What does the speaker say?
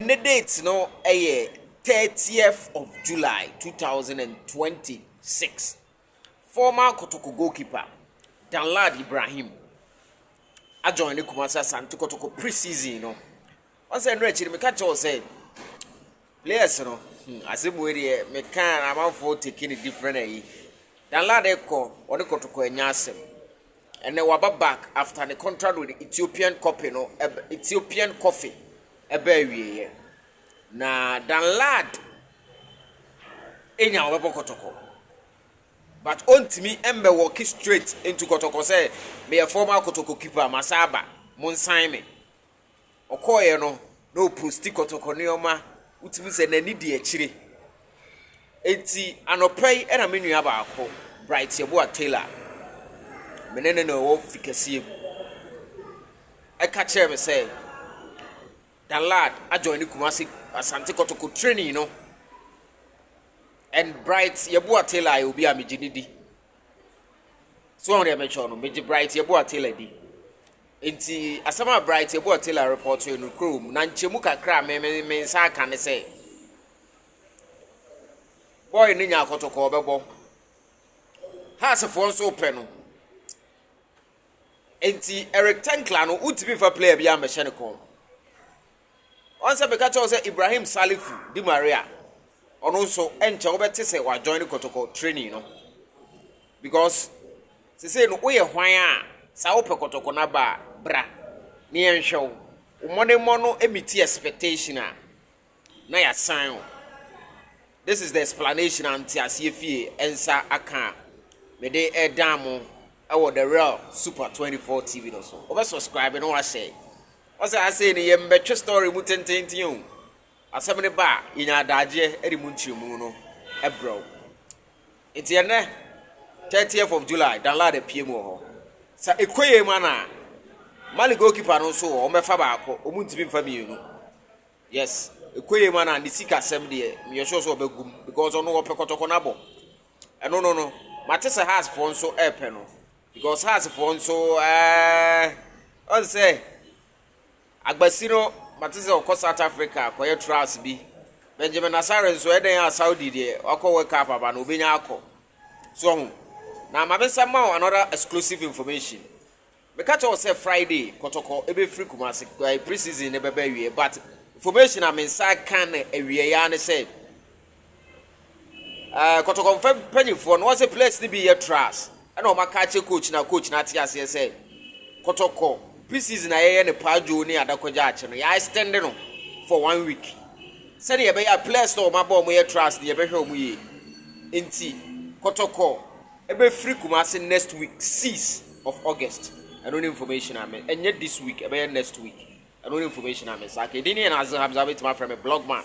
Ne date no yɛ thirtieth of July two thousand and twenty six. Former Kotoko goalkeeper Danlad Ibrahim ajoin ne Kumasi Asante Kotoko pre-season no. Wɔn sɛ ɛno akyi no meka kyerɛ wo sɛ players no hmm, asɛm wei deɛ meka na amanfoɔ taking a different ayi. Danlad kɔ wɔne Kotoko anya asɛm. Ɛnɛ waba back after ne contract with Ethiopian copy no Ethiopian coffee ɛbɛ awieɛ. Na Danlad enya ɔbɛbɔ kɔtɔkɔ but ontimi mbɛ wɔki straight into kɔtɔkɔ sɛ meyɛ former kɔtɔkɔ keeper masa aba monsan me. ɔkɔeɛ no na ɔposti kɔtɔkɔ nneɛma, wotumi sɛ n'ani di akyire. Enti anɔpa yi na me nua baako, Bright Yeboah Taylor, me ne no na ɛwɔ fi kɛseɛ mu, ɛka kyerɛ me sɛ Danlad adjoin ne Kumasi Asante kɔtɔkɔ training no. And Bright Yeboah Taylor yɛ obi a megye ne di. So wɔn deɛ mɛtwerɛ no, megye Bright Yeboah Taylor di. Nti asɛm a Bright Yeboah Taylor repɔtoe no kuro mu, na nkyɛmu kakra a me me me nsa aka ne sɛ, bɔɔl no nya akɔtɔkɔ ɔbɛbɔ. Haasefoɔ nso pɛ no. Nti Eric Tankla no, wontumi nfa player bi ammɛhyɛ ne kɔn. Ɔn sɛ meka kyerɛ wo sɛ Ibrahim Salifu di Maria a, ɔno nso ɛnkyɛ wobɛte sɛ wa join kɔtɔkɔ training no because sese no woyɛ hwan a saa wopɛ kɔtɔkɔ na ba bra ne yɛnhwɛ wo mmɔ ne mmɔ no emiti expectation a na yasan wo this is the explanation anti aseɛ fie ɛnsa aka a mede ɛdan mo ɛwɔ the real super 24 tv no so wobɛ subscribe no wahyɛ Ɔse asei no yɛ mbɛtwe story mu tententen o, asɛm no ba a yɛnya adaagyeɛ ɛde mu nkyerɛmu no brɛ wo. Nti ɛnnɛ 30th of July Danlad apue mu wɔ hɔ. Sɛ ɛkɔ yei ma no a, Mali goalkeeper no nso wɔ hɔ, wɔbɛfa baako, wɔn ntumi mfa mmienu. Yes, ɛkɔ yei ma no a ne sika sɛm deɛ meyɛ sure sɛ ɔbɛgu mu because ɔno wɔpɛ kɔtɔkɔ no abɔ. Ɛno no no, mate sɛ Hearts foɔ nso ɛrepɛ no. Because hearts foɔ nso ɛɛ ɔn sɛ agbasi no mate sɛ ɔkɔ South Africa kɔyɛ trials bi Benjamin Asare nso ɛdɛn a Saudi deɛ wakɔ World Cup aba no obɛnya akɔ so ɔho na ma mensa ma wo another exclusive information meka kyɛ wo sɛ Friday kɔtɔkɔ ɛbɛfiri Kumasi pre-season no bɛbɛ awie but information a mensa ka no awieɛ ne sɛ Ɛɛ kɔtɔkɔ mfa mpanyinfoɔ no, wɔn sɛ players no bi yɛ trash ɛna wɔn aka akyɛ coach na coach na ate aseɛ sɛ kɔtɔkɔ pre-season a yɛyɛ no paa dwo ne adakɔgya akyɛ no yɛ extend no for one week sɛdeɛ yɛbɛyɛ a players no wɔn abɔ wɔn yɛ trash no yɛbɛhwɛ wɔn yie nti kɔtɔkɔ ɛbɛfiri Kumasi next week 6 of August ɛno ne information a me ɛnyɛ this week ɛbɛyɛ next week ɛno ne information a me saa kɛ ɛdin ne yɛ na Hamza wobɛtumi afrɛ me blogman